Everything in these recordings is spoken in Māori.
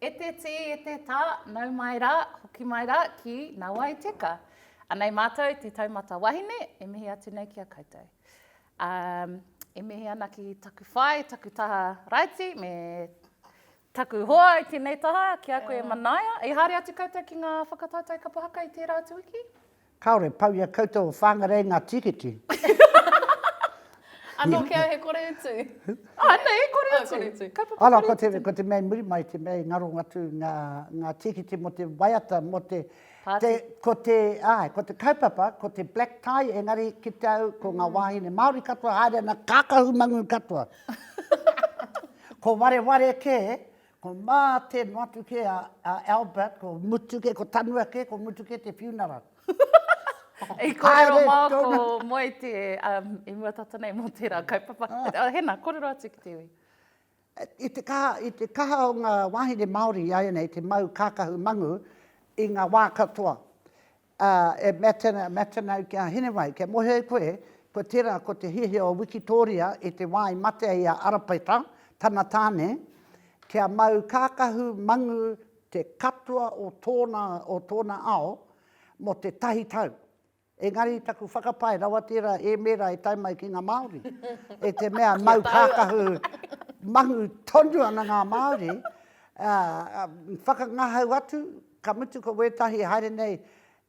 E te tī, e te tā, nau mai rā, hoki mai rā ki Nawai Teka. Anei mātou te taumata wahine, e mihi atu nei ki a koutou. Um, e mihi ana ki taku whai, taku taha raiti, me taku hoa i tēnei taha, ki a koe e manaia. I haere atu koutou ki ngā whakataetae kapa haka i tērā atu wiki? Kāore pau i a koutou o Whāngarei ngā tīkiti. Anō kē au he kore utu. Ānei, he kore utu. Kore utu. Kaupapa kore utu. Anō, ko te mea i muri mai, te mea i ngaro atu ngā tīkiti mō te waiata, mō te. Pāti. Ko te, āe, ko te kaupapa, ko te black tie, engari ki te au, ko ngā wāhine Māori katoa haere ana, kākahu mangū katoa. Ko wareware kē, Ko mā te motu kē a, a Albert, ko mutu kē, ko tanua kē, ko mutu kē te funeral. I kōrero Haere māu tōna. ko Moe te, um, i mua tata nei mō tērā kaupapa. Oh, Hena, kōrero atu ki te iwi. I te kaha, i te kaha o ngā wāhine Māori i āianei te mau kākahu mangu i ngā wā katoa. Ā, e Matina, Matina au ki a Hinewai, kei mōhio e koe, ko tērā ko te hiahia o Wikitōria i te wā i matea i a Arapaita, tana tāne, kia mau kākahu mangu te katoa o tōna, o tōna ao mō te tahi tau. Engari taku whakapae rawa tērā ēmēra e tae mai ki ngā Māori, e te mea mau kākahu mangu tonu ana ngā Māori, ā, whakangahau atu, Ka mutu ko wētahi e haere nei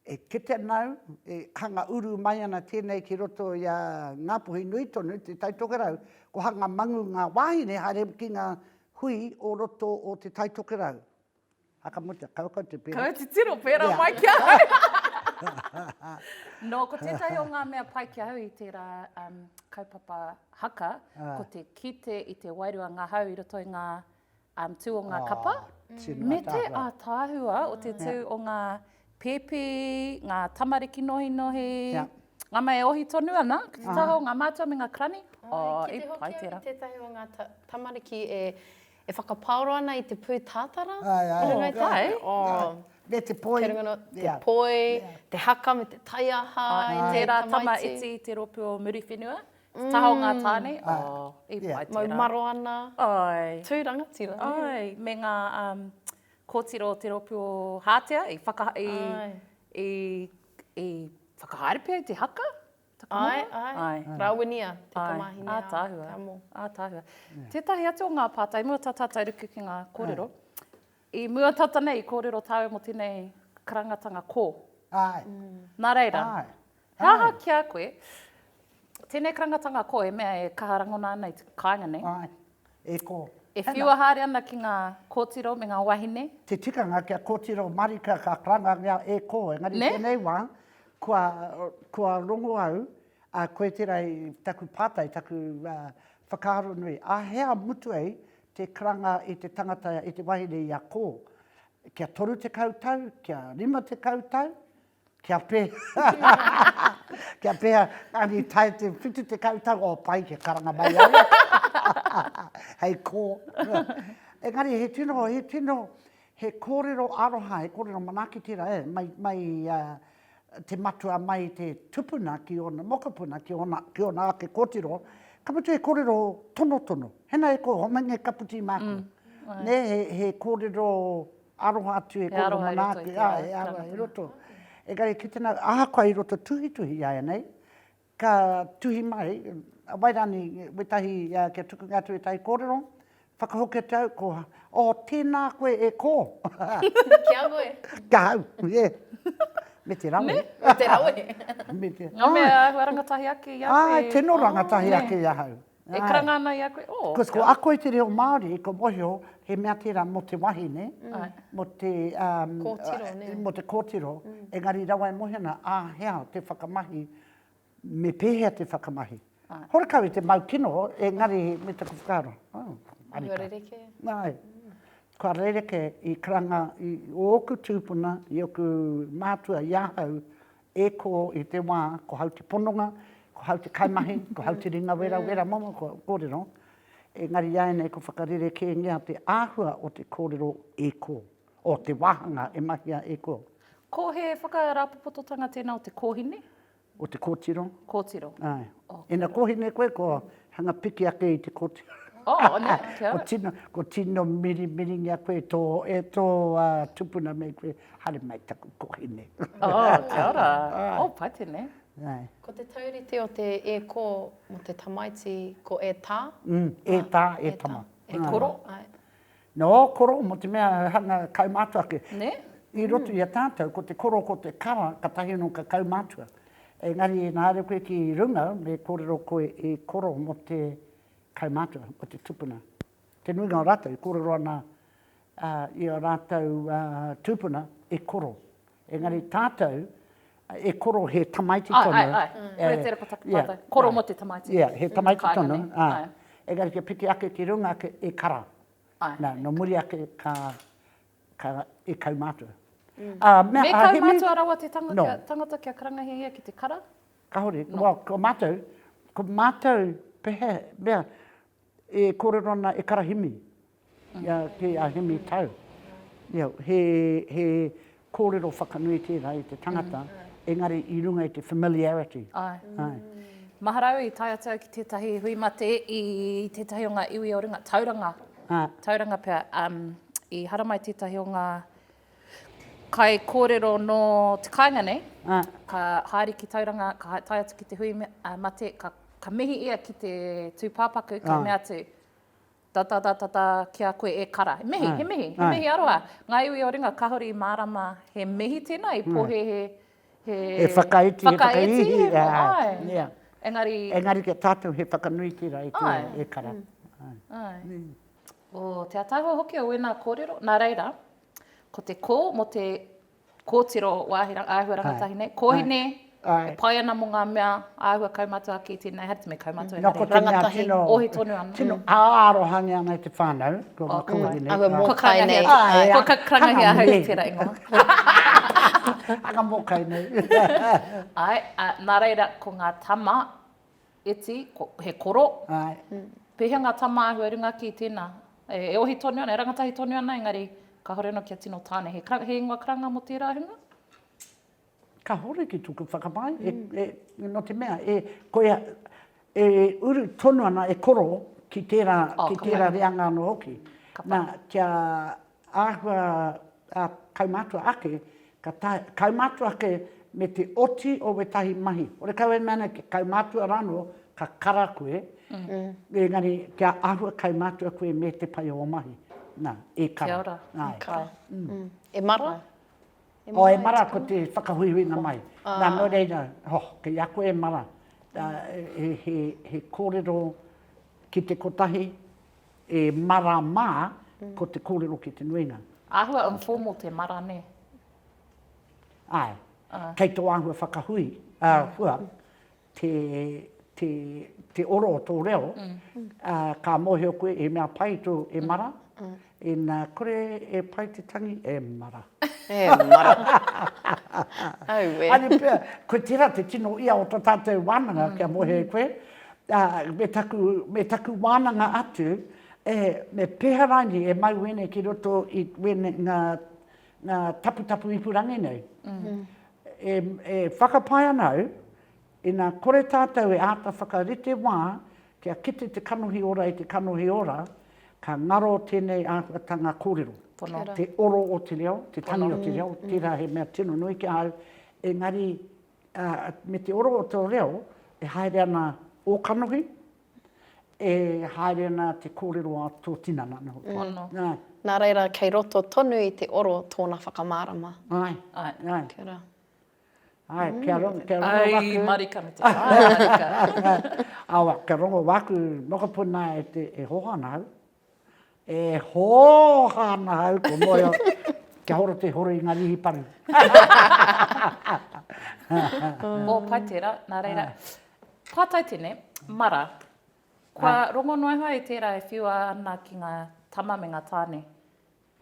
e kite nāu, e hanga uru mai ana tēnei ki roto i a Ngāpuhi nui tonu, Te Tai Tokerau, ko hanga mangu ngā wāhine haere ki ngā hui o roto o Te Tai Tokerau. A ka mutu, kau kau te pērā. Kau titiro, pērā mai ki ahau. Nō, ko tētahi o ngā mea pai ki ahau i tērā kaupapa haka, ko te kite i te wairua ngahau i roto i ngā tū o ngā kapa, me te ātaahua o te tū o ngā pēpi, ngā tamariki nohinohi, ngā mea e ohi tonu ana ki te taha o ngā mātua me ngā karani, i pai tērā. Ki te hoki au ki tētahi o ngā tamariki e whakapaoro ana i te pūtātara, i runga i te tai, me te poi, kei runga noa te poi, te haka me te taiaha, i tērā tamaiti, te rōpū o Muriwhenua, Te taha o ngā tāne, i pai tērā. Mau maro ana, tū rangatira. Āe, me ngā kōtiro o te rōpū o Hātea i whakahaere pea i te haka? Āe, āe, rāwenia te tamāhine a Te Amo. Ātaahua. Tētahi atu o ngā pātai, i mua tā tātou ruku ki ngā kōrero, i mua tata nei i kōrero tāua mō tēnei karangatanga kō. Āe. Nā reira, He aha ki a koe tēnei karangatanga ko e mea e kaha rangona ana i te kāinga nei? Āe, e ko. E whiua haere ana ki ngā kōtiro me ngā wahine? Te tikanga kia kōtiro marika ka karangangia e ko, engari tēnei wā, kua, kua rongo au, ā, koe tērā i taku pātai, taku whakaaro nui, ā hea mutu ai te karanga i te tangata, i te wahine i a ko? Kia 30 tau, kia 50 tau? Kia Kia pēhea Ani tae te whitu tekau tau oh pai kia karanga mai au hei kō engari he tino he tino he kōrero aroha he kōrero manaaki tērā eh mai mai te matua mai te tupuna ki ōna mokopuna ki ōna ki ōna ake kōtiro ka mutu he kōrero tonotono he nā e kō homai nei ka puti māku mm. nē he, he kōrero Aroha atu e koro manaaki, he aroha i roto. Engari ki tena, ahakoa i roto tuhituhi i aenei, ka tuhi mai, wai rani, wetahi, kia tukunga atu wetahi korero, whakahoki atu au, ko, oh, tena koe e ko. Ki a koe. Ki a au, yeah. Me te rawe. Me? Me te rawe. Me te, ai. Nga mea, āhua rangatahi ake i a koe. Ai, tino rangatahi ake i ahau. E karanga ana i a koe, oh. Because ko ako i te reo Māori, ko mohio, he mea tērā mō te wahine, mō te, um, kōtiro, nē. mō te kōtiro, engari rawa e mohio ana, ā, hea te whakamahi, me pēhea te whakamahi. Horekau i te mau kino, engari me taku whakaaro, oh, arika. Kua rerekē. Nāi. Kua rerekē i karanga i ōku tūpuna, i ōku mātua, i ahau, E ko i te wā, ko hau te pononga, ko hau te kaimahi, ko hau te ringa wera wera momo kua kōrero, engari iāianei ko whakarerekēngia te āhua o te kōrero e ko, o te wāhanga e mahia e ko. Ko he whakarāpopototanga tēnā o te kōhine? O te kōtiro. Kōtiro. Āe. Okay. Ina kōhine koe, ko hanga piki ake i te kōtiro. Oh, ne, kia ora. ko tino, ko tino mirimiringia koe tō, e tō uh, tupuna me koe. Haere mai taku kohine. Oh, kia ora. Oh, paitene. Nei. Ko te taurite o te e ko mo te tamaiti ko e ta. Mm, e ta, e tama. E koro. Ai. No, koro mo te mea hanga kaumātua ake. Ne? I roto mm. i a tātou, ko te koro, ko te kara, ka tahi no ka kaumātua. Engari, e nāre koe ki runga, me kōrero koe i koro mo te kaumātua, mo te tupuna. Te nuinga o rātou, i kōrero ana ā, i ō rātou tūpuna e koro, engari tātou e koro he tamaiti tonu. Āe, āe, āe. Koia tērā ko taku pātai. Koro mō te tamaiti. Ia, he tamaiti tonu, ā. Engari kia piki ake ki runga ake, e kara. Āe. Nā, nō muri ake ka, ka, e kaumātua. Ā, me Hemi. Me kaumātua rawa te tangata, tangata kia karangahia ia ki te kara? Kāore. Nō. Ko mātou, ko mātou, pehea, mea, e kōrero ana e kara Hemi. Ia ki a Hemi Tau. Ia, he, he kōrero whakanui tērā i te tangata, engari i runga i te familiarity. Ai. Ai. Mahara au i tae atu au ki tētahi hui mate i tētahi o ngā iwi o runga, Tauranga. Ā. Tauranga pea. Um, i haramai tētahi o ngā kai kōrero nō te kāinga nei, Ā. ka haere ki Tauranga, ka hae, tae atu ki te hui me, ā, mate, ka, ka mihi ia ki te tūpāpaku, ka Ā. mea atu, Tatatatatata kia koe e kara. He mihi, he mihi, he mihi aroha. Ngāi Ui o Ringa, kahore i mārama. He mihi tēnā i pohehe he. He whakaiti, he whakaihi. Whakaihi, āe. Engari. Engari ki a tātou he whakanui tērā i koe e kara. Āe. O te ataahua hoki o wēnā kōrero. Nā reira, ko te kō mō te. Kōtiro, wāhi āhua rangatahi nei, kōhine, e pai ana mō ngā mea āhua kaumātua ake i tēnei haere, me kaumātua engari, rangatahi, ohi tonu ana. Tino ārohangia ana i te whānau, ko ngā kōhine nei. Āhua mōkai nei. Ko ka karangahi ahau i tērā ingoa. Āhua mōkai nei. Āe, nā reira, ko ngā tama, Eti, ko, he koro. Ae. Pehea nga tamahu e runga ki tena? E ohi tonu ana, e rangatahi tonu ana engari kahore ano kia tino tane. He, he ingoa karanga mo tera hunga? Kahore ki toku whakamae, e, e, no te mea, e, ko ia, e uru tonu ana, e koro ki tera, ki tera reanga ano hoki. Na, kia, Āhua a kaumātua ake, ka tae, kaumātua ake me te oti o wētahi mahi. Hore kau e mea nei kia kaumātua rānō, ka kara koe, engari kia āhua kaumātua koe me te pai o ō mahi. Nā, e kara. Kia ora, e kara. E mara? Oh, e mara, ko te whakahuihuinga mai. Nā, nō reira, oh, kei a koe e mara, he kōrero ki te kotahi, E mara ma, ko te korero ki te nuinga. Ahua informal te mara ne. Ae. Kei to ahua whakahui, ahua, te, te, te oro o to reo, ka mohio koe e mea pai to e mara, ina kore e pai te tangi, e mara. E mara. Aue. Are pea, koe tera te tino ia o to tatou wananga kia mohio e koe, ā, me taku, me taku wānanga atu, e, me pēhea rānei e mau wēnei ki roto i wēnei, ngā, ngā taputapu ipurangi nei. E, e whakapae ana au, ina kore tātou e āta whakarite wā kia kite te kanohi ora i te kanohi ora, ka ngaro tēnei āhuatanga kōrero. Pono. Te oro o te reo, te tangi o te reo, tērā he mea tino nui ki ahau, engari ā, me te oro o tō reo, e haere ana ō kanohi, e haere ana te kōrero a tō tinana, nō hoki. Pono. Nā. Nā reira, kei roto tonu i te oro tōna whakamārama. Āe. Āe. Āe. Kia ora. Āe, kia rongo, kia rongo waku. Ai, marika me te whānau, marika. Awa, kia rongo waku mokopuna e te, e hohana au. E hooha ana au ko moea kia horo te horo i nga rihi paru. Oh, pai tera, na reira. Patai tene, Mara, kua rongo noa e hoa e tera e whiua ana ki nga tama me nga tane?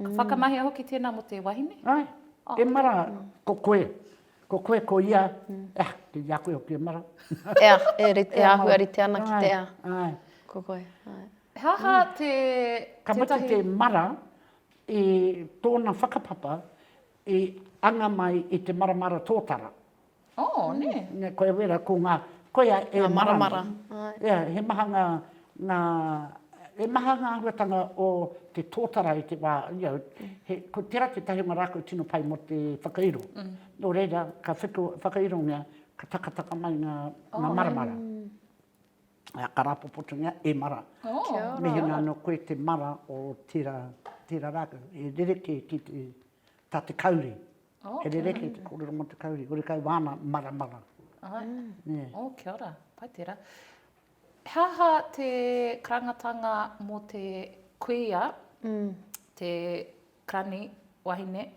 Ka whakamahia hoki tēnā mō te wahine? Āe, e Mara, ko koe, ko koe ko ia, ea, kei a koe hoki e Mara. Ea, e rite, e āhua rite ana ki te ea. Āe. Ko koe, āe. He aha te, tētahi? Ka mutu te Mara i tōna whakapapa i anga mai i te maramara tōtara. Oh, nē. Nē, koia wera, ko ngā, koia e maramara. Ia, he maha ngā, ngā, he maha ngā āhuatanga o te tōtara i te wā, you know, he, ko tērā tētahi o ngā rā kua tino pai mō te whakairo. Nō reira, ka whiko, whakairongia, ka takataka mai ngā, ngā maramara. Ā, ka rāpopotongia, e mara. Mehemea anō koe te mara o tērā, tērā rākau, e rerekē ki te, tā te kauri. Oh, he rereke te kōrero mō te kauri, kore kau wāna maramara. Ai, yeah. oh, kia ora, pai tērā. He aha te karangatanga mō te kuia, mm. te krani, wahine,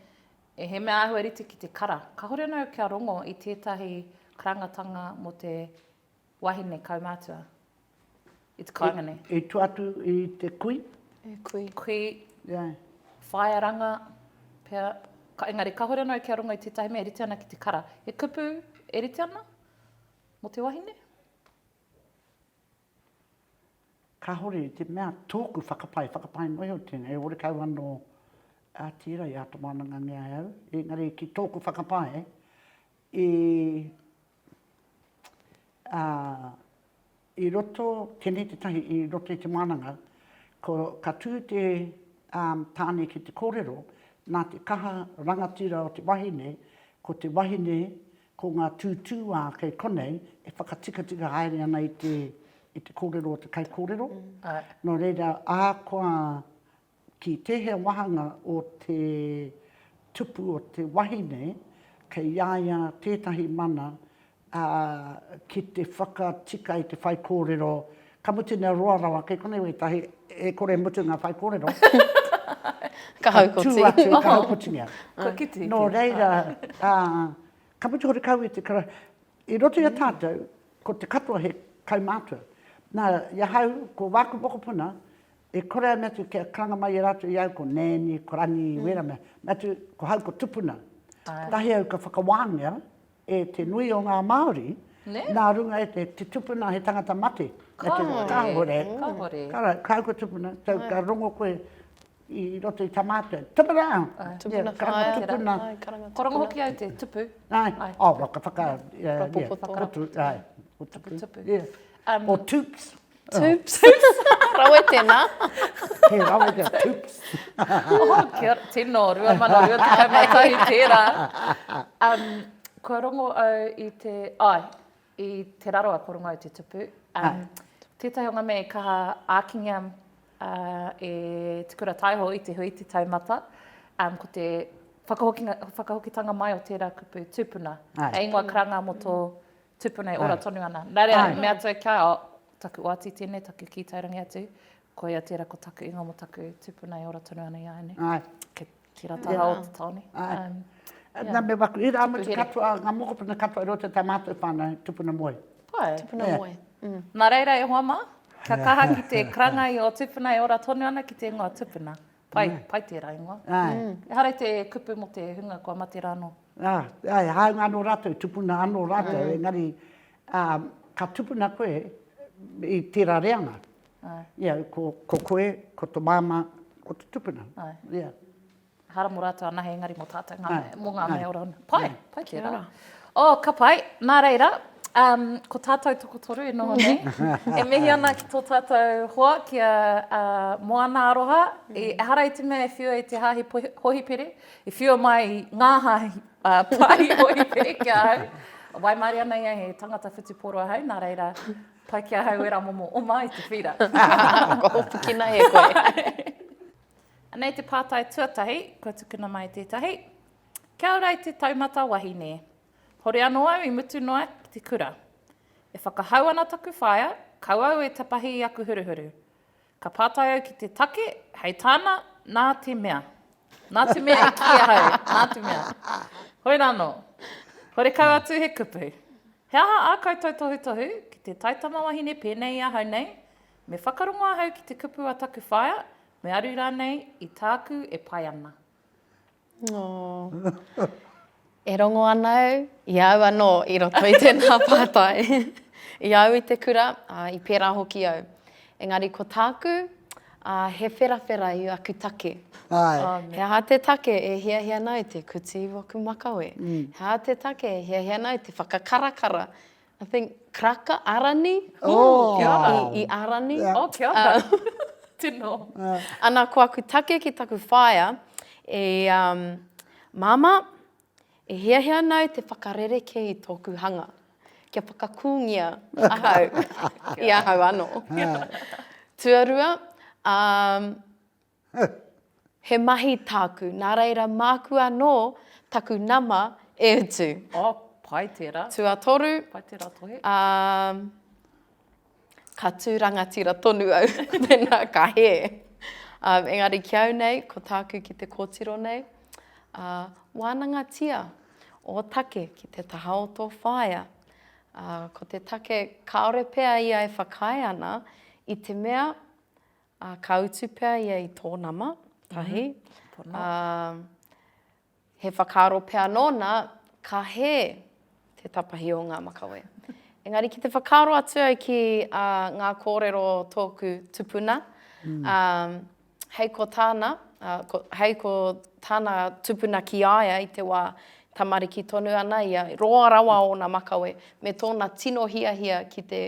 e he mea āhua rite ki te kara. Ka hore nau kia rongo i tētahi karangatanga mō te wahine kaumātua. I te kāinga nei. I tua atu i te kui. I kui. Kui. Ia. Whaearanga. Pea. Ka, engari, kahore anō kia rongo i tētahi mea e rite ana ki te kara. He kupu e rite ana mō te wahine? Kahore i te mea tōku whakapae, whakapae noa iho tēnei, e orekau anō a tērā i āta wānangangea e au. Engari, ki tōku whakapae, i Ā, i roto, tēnei tētahi i roto i te mānanga, ko, ka tū te, ā, tāne ki te kōrero, nā te kaha rangatira o te wahine, ko te wahine, ko ngā tūtūā kei konei e whakatikatika haere ana i te, i te kōrero o te kaikōrero. Nō reira, ahakoa Ki tēhea wāhanga o te tupu o te wahine, kei a ia tētahi mana, ā, ki te whakatika i te whaikōrero, ka mutu nei roa rawa, kei konei wētahi, e kore e mutu ngā whaikōrero, ka tū atu, ka haukotingia. Nō reira, ā, ka mutu hoki kau i te kara, i roto i a tātou, ko te katoa he kaumātua. Nā, i ahau, ko wāku mokopuna, I kore ai me atu kia karanga mai e ratou i au ko Nanny, ko Rangi, wera mea, me atu ko hau ko tupuna. Kotahi au ka whakawangia e te nui o nga Maori na runga e te, te tupuna he tangata mate. Kahore, kahore. Ko au ko tupuna, tau ka rongo koe i roto i ta matou, tupuna! Tupuna whaea te tupuna. Ko rongo hoki au te tupu. Oh, ka whaka, yeah, yeah, tupu, yeah. Tupu, tupu. Yeah. Or tups. Toops. Toops. Rawe tēnā. He rawe kia toops. oh, kia ora. Tino, rua mana, rua tekau mai tahi tērā. Um, kua rongo au i te... Ai, i te raroa kua rongo au te tupu. Um, tētahi o ngā mea i kaha ākingia uh, e Te Kura Taiho i te hui te taumata. Um, ko te whakahokitanga mai o tērā kupu tūpuna. Ai. E ingoa karanga mō tō Tupuna e ora tonu ana. Nā reira, me atu au kia, oh, taku oati tēnei, taku kī taurangi atu, koia tērā ko taku ingoa mō taku tupuna e ora tonu ana i a au nei. Ai. Ke, ki rā taha o te taone. Ai. Um, yeah. Nā me waku, i rā mutu katoa, ngā mokopuna katoa i roto tā mātou whānau, tupuna moe. Pai. Tupuna yeah. moe. Mm. Nā reira e hoa mā, kia kaha ki te karangai o tupuna e ora tonu ana ki te ingoa tupuna. Pai, pai tērā ingoa. Ehara i te kupu mō te hunga kua mate rā anō. Āe, e hāunga anō rātou, tupuna anō rātou, engari ka tupuna koe i tērā reanga. Ia, ko koe, ko tō māmā, ko tō tupuna. Ehara mō rātou anahe, engari mō tātou, mō ngā mea ora. Pai, pai tērā. Oh, ka pai. Nā reira, um, ko tātou tokotoru e noho nei. e mihi ana ki tō tātou hoa, ki a uh, Moana Aroha. Mm. I, ehara i te mea e whiua i te hāhi hohipere, i whiua mai ngā hāhi uh, pāhi hohipere ki ahau. Wai maari ana ia he tangata whutuporo ahau, nā reira, pai ki ahau e ramomo o mai te whira. Ko hopukina e koe. Anei te pātai tuatahi, kua tukuna mai tētahi. Kia ora i te taumata wahine. Hore anō au i mutu noa ki te kura. E whakahau ana taku whaea, kau au e tapahi i aku huruhuru. Ka pātai au ki te take, hei tāna, nā te mea. Nā te mea i kī ahau, nā te mea. Hoi rānō. Horekau atu he kupu. He aha ā koutou tohutohu ki te taitama wahine pēnei i ahau nei? Me whakarongo ahau ki te kupu a taku whaea, me aru rānei i tāku e pai ana. Oh. E rongo ana au, i a au anō i roto i tēnā pātai. I a au i te kura, ā, i pērā hoki au. Engari ko tāku, ā, he wherawhera i aku take. Āe. Oh, he aha te take e hiahia ana au te kuti i waku makawe? He aha te take e hiahia ana au te whakakarakara I think Karaka, Arani. Oh, kia ora. I, i Arani. Yeah. Oh, kia ora. Uh, Tino. Uh. Ana, ko aku take ki taku whaea, e, um, Mama, e hea hea nau te whakarere ke i tōku hanga. Kia whakakūngia ahau i ahau ano. Tuarua, um, Huh! He mahi tāku, nā reira māku anō taku nama e utu. Oh, pai tērā. Tuatoru. Pai tērā tohe. Ā, ka tū rangatira tonu au, mēnā ka hē. Ā, engari ki au nei, ko tāku ki te kōtiro nei, ā, wānangatia ō take ki te taha o tō whaea. Ā, ko te take kāore pea ia e whakaae ana, i te mea, Ā, ka utu pea ia i tō nama, tahi, ā, he whakaaro pea nōna, ka hē te tapahi o ngā makawe. Engari ki te whakaaro atu au ki ngā kōrero o tōku tupuna, ā, hei ko tāna, hei ko tāna tupuna ki a ia i te wā e tamariki tonu ana ia, roa rawa ōna makawe, me tōna tino hiahia ki te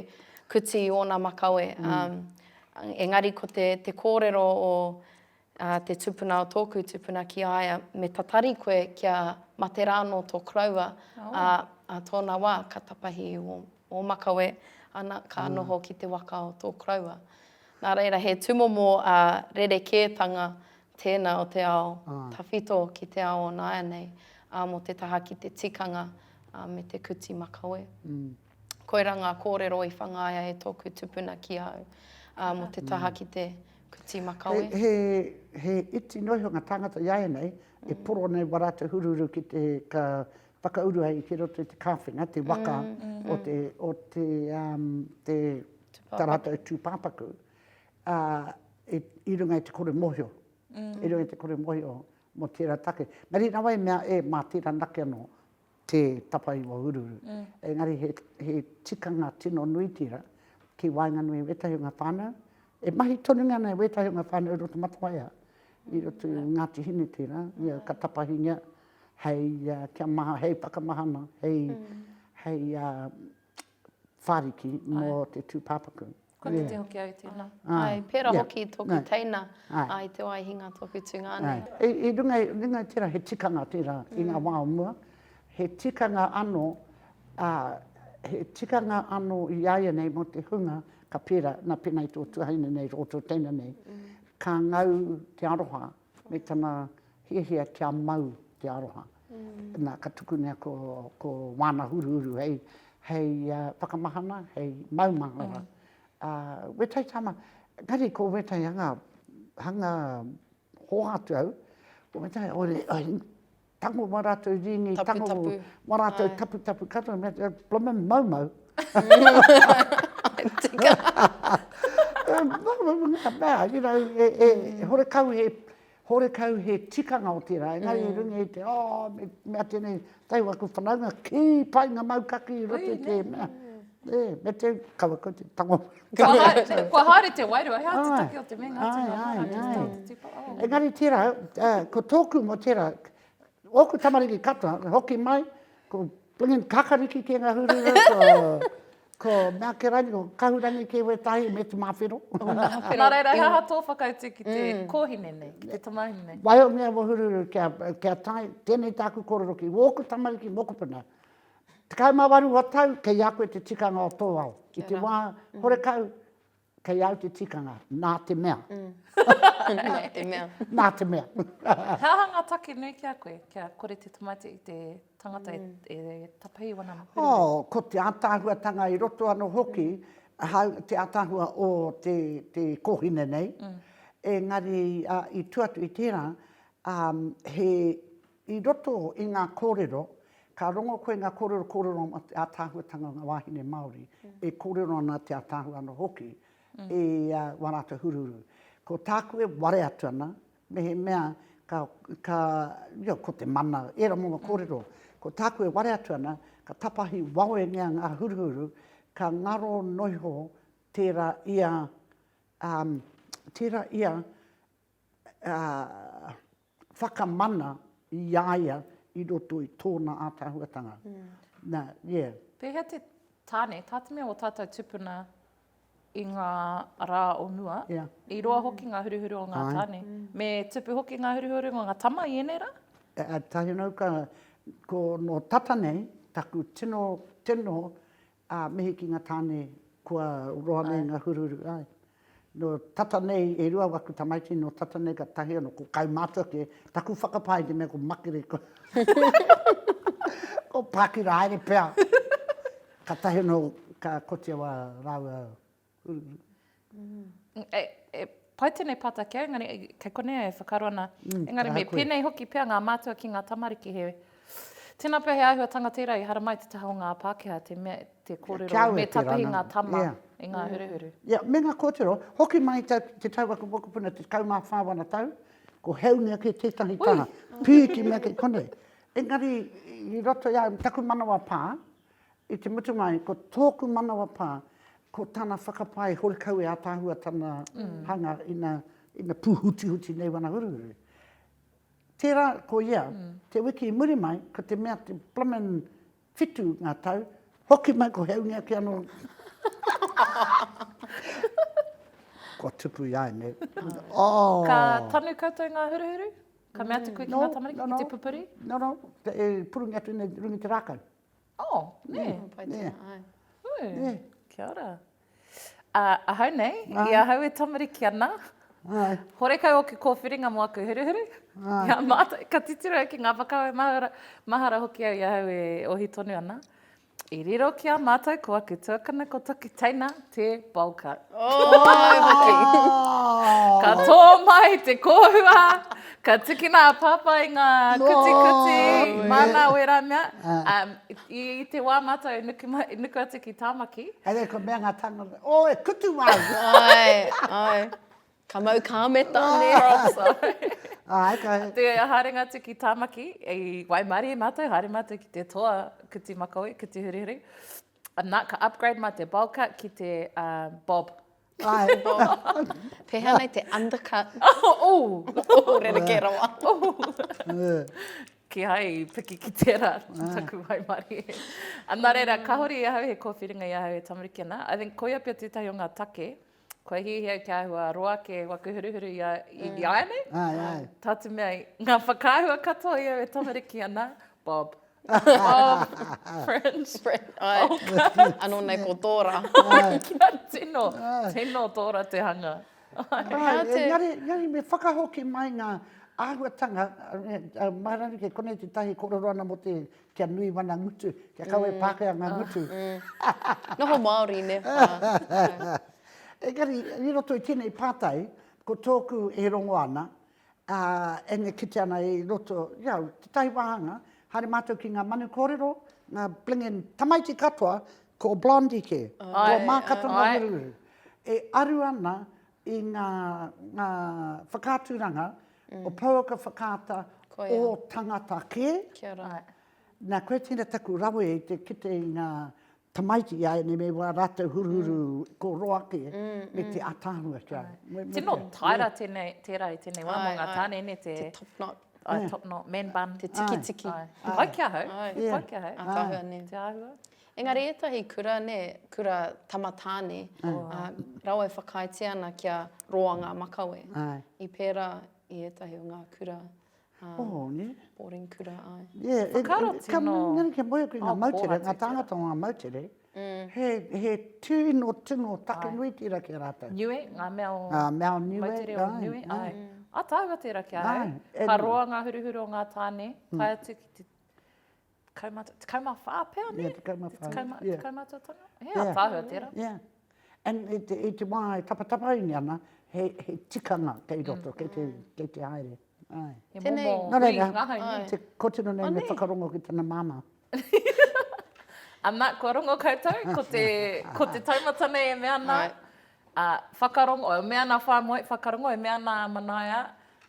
kuti i ōna makawe, ā, Engari ko te kōrero o te tupuna o tōku tupuna ki a ia, me tatari koe kia mate rā anō tō koroua, ā tōna wā ka tapahi i ō makawe, ana, ka noho ki te waka o tō koroua. Nā reira, he tūmomo rerekētanga tēnā o te ao tawhito ki te ao o nāianei, mō te taha ki te tikanga me te kuti makawe. Koirā ngā kōrero i whangaia e tōku tupuna ki au, ā, mō te taha ki te kuti makawe. He, he, he iti noa iho ngā tāngata iāianei e poro nei wā rātou huruhuru ki te, ka whakauru ai ki roto i te kāwhenga, te waka o te, o te, um, te, tā rātou tūpāpaku, ā, i, i runga i te kore mōhio, i runga i te kore mōhio mō tērā take. Engari nā wai i mea, e, mā tērā nake anō. te tapaiwa uruuru. Engari he, he tikanga tino nui tira ki waenganui i wetahi o nga whanau, e mahi tonu ana e wetahi o nga whanau i roto Matawaiha, i roto i Ngati Hine tera, ia ka tapahingia hei kia maha, hei whakamahana, hei, hei whāriki mō te tūpāpaku. Kua kite yeah. hoki au tēnā. Ah. Ai, pērā yeah. hoki tōku no. teina, ai. ai te wai hinga tōku tūnga ane. I, i runga, runga i tērā he tikanga tērā mm. i ngā mm. wā o mua, he tikanga ano, a, he tikanga ano i aia nei mō te hunga, ka pērā, nā pēnā i tō tuhaina nei, rō tō teina nei, mm. ka ngau te aroha, Me tana hiahia kia mau te aroha. Na, ka tukunea ko, ko Wana Huruhuru hei, hei whakamahana, hei maumahara. Uh, Wetai Tama, engari ko Wetai hanga, hanga hoatu au, ko Wetai, tango wā rātou rīngi, tango wā rātou taputapu katoa, me te blooming maumau. Tika. Maumau ngā mea, you know, e, e, e horekau he, horekau he tikanga o tērā, engari mm. rungi i te, oh, me, mea tēnei, tei waku whanaunga, kī pai ngā maukaki i roto i te mea. E, me te kawa kau te tango. Kua, haere, kua haere te wairua, hea te take o te mea ngā tino ai, ai, ai, ai. Engari tērā, uh, ko tōku mo tērā, ōku tamariki katoa, hoki mai, ko Plingin Kakariki ki ngā hurura, ko, ko Mea Keraini, ko Kahurangi ki wētahi, me te Māwhero. Nā reira, he aha tō whakautu ki te mm. kōhine nei, ki te tamahine nei? Wai o mea mo hururu kia, kia tai, tēnei tāku kororo ki wōku tamariki mokopuna, Tekau mā waru o tau, kei a koe te tikanga o tō ao. I te wā horekau, kei au te tikanga, nā te mea. nā te mea. nā te mea. He aha ngā take nui ki a koe, kia kore te tamaiti i te tangata e, e tapei wana hurinui? Oh, ko te ātaahuatanga i roto anō hoki, ahau, te ātaahua o te, te kōhine nei, engari, i tua atu i tērā, he I roto i ngā kōrero, ka rongo koe ngā kōrero kōrero ana te ātaahuatanga o ngā wāhine Māori, e kōrero ana te ātaahua anō hoki i wā rātou huruhuru. Ko tāku e ware atu ana, mehemea ka, ka, io, ko te mana, ērā momo kōrero. Ko tāku e ware atu ana, ka tapahi wawengia ngā huruhuru, ka ngaro noiho tērā ia, um, tērā ia, uh. whakamana i a ia i roto i tōna ātaahuatanga. Nā, yeah. Pēhea te tāne, tā te mea o tātou tupuna i ngā rā o mua, i roa hoki ngā huruhuru o ngā tāne. Me tupu hoki ngā huruhuru o ngā tama i ēnei rā? Tahi anō ka, ko nō tata nei, taku tino tino Ā, mihi ki ngā tāne kua roa nei ngā huruhuru, āe. Nō tata nei e rua waku tamaiti, nō tata nei ka tahi anō, ko kaumātua kē, taku whakapae i te mea ko Makere, ko ko Pākira haere pea. Ka tahi anō ka kotia wā rāua Ururu. E pai tēnei pātai kia, engari kei konei e whakaaro ana. Engari me pēnei hoki pea ngā mātua ki ngā tamariki he. Tēnā pea he āhuatanga tērā i haramai te taha o ngā Pākehā te mea, te kōrero me tapahi ngā tama i ngā huruhuru. Ia, me ngā kōtiro. Hoki mai i te tau a te mokopuna te tekau mā whā wana tau, ko Heunga kē tētahi taha. Pīki mea kei konei. Engari i roto i a au, taku manawa pā, I te mutunga ko tōku manawa pā, ko tana whakapae hori kau e ataahua tana hanga ina, ina pūhutihuti nei wana huruhuru. Tērā ko ia, te wiki i muri mai, ko te mea te blooming whitu ngā tau, hoki mai ko Heungi ake anō. Kua tupu i a au nei. Oh! Ka tanu koutou i ngā huruhuru? Ka mea te koe ki ngā tamariki, ki te pupuri? No, no, no, no, no, e purungi atu nei runga i te rākau. Oh, nē. Nē. Pai tēnā, nē. Āe. Hui. Nē. Kia ora. Ā, ahau nei, i ahau e tamariki ana. Āe. Horekau ōku kōwhiringa mō aku huruhuru. Āe. Ki a mātou, ka titiro au ki ngā whakawe mahara, mahara hoki au i ahau e ohi tonu ana. I riro ki a mātou ko aku tuakana ko taku teina, Te Bulka. Oi hoki. Ka tō mai te kōhua, ka tukina a Pāpā i ngā kutikuti, māna wērā mea. I te wā mātou e nuku atu ki Tāmaki. Haere kua mea ngā tāngata, o e kutu wā au. Oi, oi. Ka mau kāmeta nē. Props, oi. Āe, ka. Te haerenga atu ki Tāmaki, i waimarie mātou, haere mātou ki te toa kuti makawe, kuti hurihuri. Ana, ka upgrade ma te bowl cut ki te bob. Ai. Pehea nei te undercut. Oh, rerekē rawa. Kihai i piki ki tērā, taku waimarie. Ana reira, ka hori i ahau he kōwhiringa i ahau he tamariki ana. I think koia pea tētahi o ngā take. kua hiahia kia ahua roa ake waku huruhuru i a āianei. Ai, ai. Tā te mea, ngā whakaahua katoa i au e tamariki ana, Bob. Bob, Fringe. Fringe, ai. Oka. Anō nei ko Tōra. Kia tino, tino Tōra te hanga. Ai, engari, engari me whakahoki mai ngā āhuatanga, mā rānei kē, konei tētahi e kōrero ana mō te Kia nui mana ngutu, kia kawe Pākehā ngā ngutu. Noho Māori, nē? Engari, i roto i tēnei pātai, ko tōku e rongo ana, and e kite ana i roto, jā, tētahi wāhanga, haere mātou ki ngā manu kōrero, ngā blingin tamaiti katoa, ko Blondie kē, ko Mākatanga Huruhuru. E aru ana i ngā whakaaturanga o pouaka whakaata o tangata kē. Nā, koe tēnā taku rawe i te kite i ngā tamaiti i a ēnei me wā rātou huruhuru ko roa ake me te ataahua ki a au. Tino taera tēnei, tērā i tēnei wā mō ngā tāne, nē te. Te top knot. Ai, top knot, man bun. Te tikitiki. He pai ki ahau, he pai ki ahau. Te āhua nei. Te āhua. Engari etahi kura ne, kura tamatāne, a, rawa e whakaaetia ana kia roa nga makawe. Ae. I pera i etahi o nga kura, a, Oho, ne? boarding kura, ae. Yeah, e, Whakaaro e, ka, tino- engari kia moe aku i nga Oh, moutere, kōhatu nga te tāngata o nga moutere, he, he tino, tino take nui tera ki a ratou. Niue, nga mea o. Nga mea o niue, Moutere o ae, niue, ae. ae. A taua tera ki a au. Ae, e Ka noa. roa nga huruhuru o nga tane, tae atu ki te, Kaumata, tekau mā whā pea, nē? Ia, tekau mā whā. Tekau mā tō tana? He a tāhua tērā. Ia. And i te, i te wā e tapatapaini ana, he, he tikanga kei roto, kei te, kei te haere. Ai. He momo hui ngahau, nē? Te kotino nei me whakarongo ki tana māmā. Ana, kua rongo koutou, ko te, ko te taumata nei e mea ana, Ā, whakarongo, e mea ana a Whāmoe, whakarongo, e mea ana a Manaia,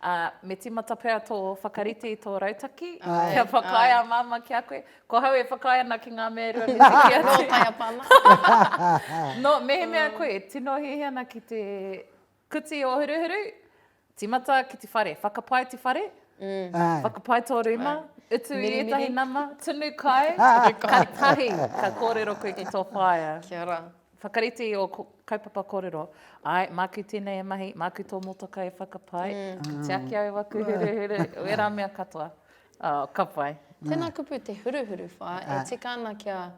ā, me tīmata pea tō whakarite i tō rautaki, kia whakaae a Māmā ki a koe. Ko ahau e whakaae ana ki ngā mea e rua me te kī atu. Nō Taiapa ana. Nō, mehemea koe e tino hiahia ana ki te kuti o Huruhuru, Tīmata ki te whare, whakapae te whare, whakapae tō rūma, utu i ētahi nama, tunu kai, kare tahi ka kōrero koe ki tō whaea. Kia ra. Whakarite i ō kaupapa kōrero, āe, māku tēnei e mahi, māku tō motokā e whakapae, ka tiaki au aku huruhuru, wērā mea katoa. Oh, ka pai. Tēnā kupu te huruhuru whā, e tika ana kia